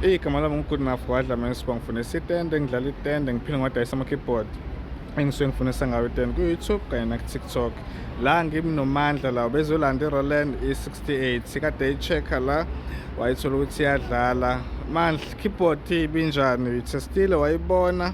igama lami ngu-good enough wadla mane siba ngifuna isitende ngidlala itende ngiphinde ngiwadayisa ama-keyboard engisuke ngifunisa ngayo itende ku-youtube kanye naku-tiktok la ngimnomandla lawo bezolanda i-roland i-68 kade i-checker la wayithola ukuthi iyadlala mandla keyboard ibinjani uyithestile wayibona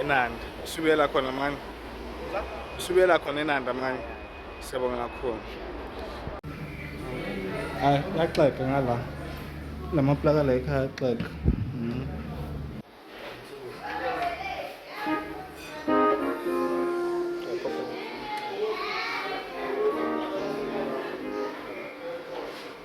enanda usubuyela khona mani usubuyela khona enanda mani siyabonga kakhulu hayi yaxeka ngala la maplaka la ekhaya yaxeka mm.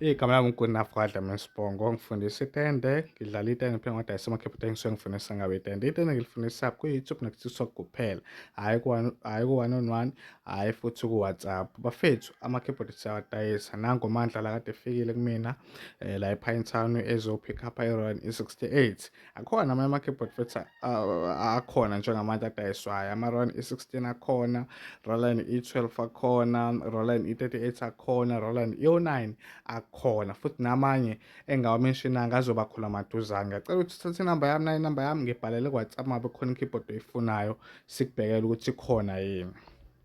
Igama lami nguGunafradla Mesibongo, ngifundisa itende, ngidlala itende phela ngoda isemakhephuta engisuke ngifundisa ngabe itende. Itende ngilifundisa kwi-YouTube naku-TikTok kuphela, hhayi hhayi ku-one on one, hhayi futhi ku-WhatsApp. Bafethu amakhebhodi siyawadayisa, nangu uMandla la kade efikile kumina eh, la ePine Town ezophikha apha e-Royal E68. Akhona amanye ama-keyboard futhi a- a- akhona njengamanje adayiswayo ama-ron e16 akhona roland e12 akhona roland e38 akhona roland e09 akhona futhi namanye engawamenshinanga azoba khona maduzane ngiyacela ukuthi uthathe inamba yami nayo inamba yami ngibhalele kwatsapp mabe khona i-keyboard oyifunayo sikubhekele ukuthi ikhona yini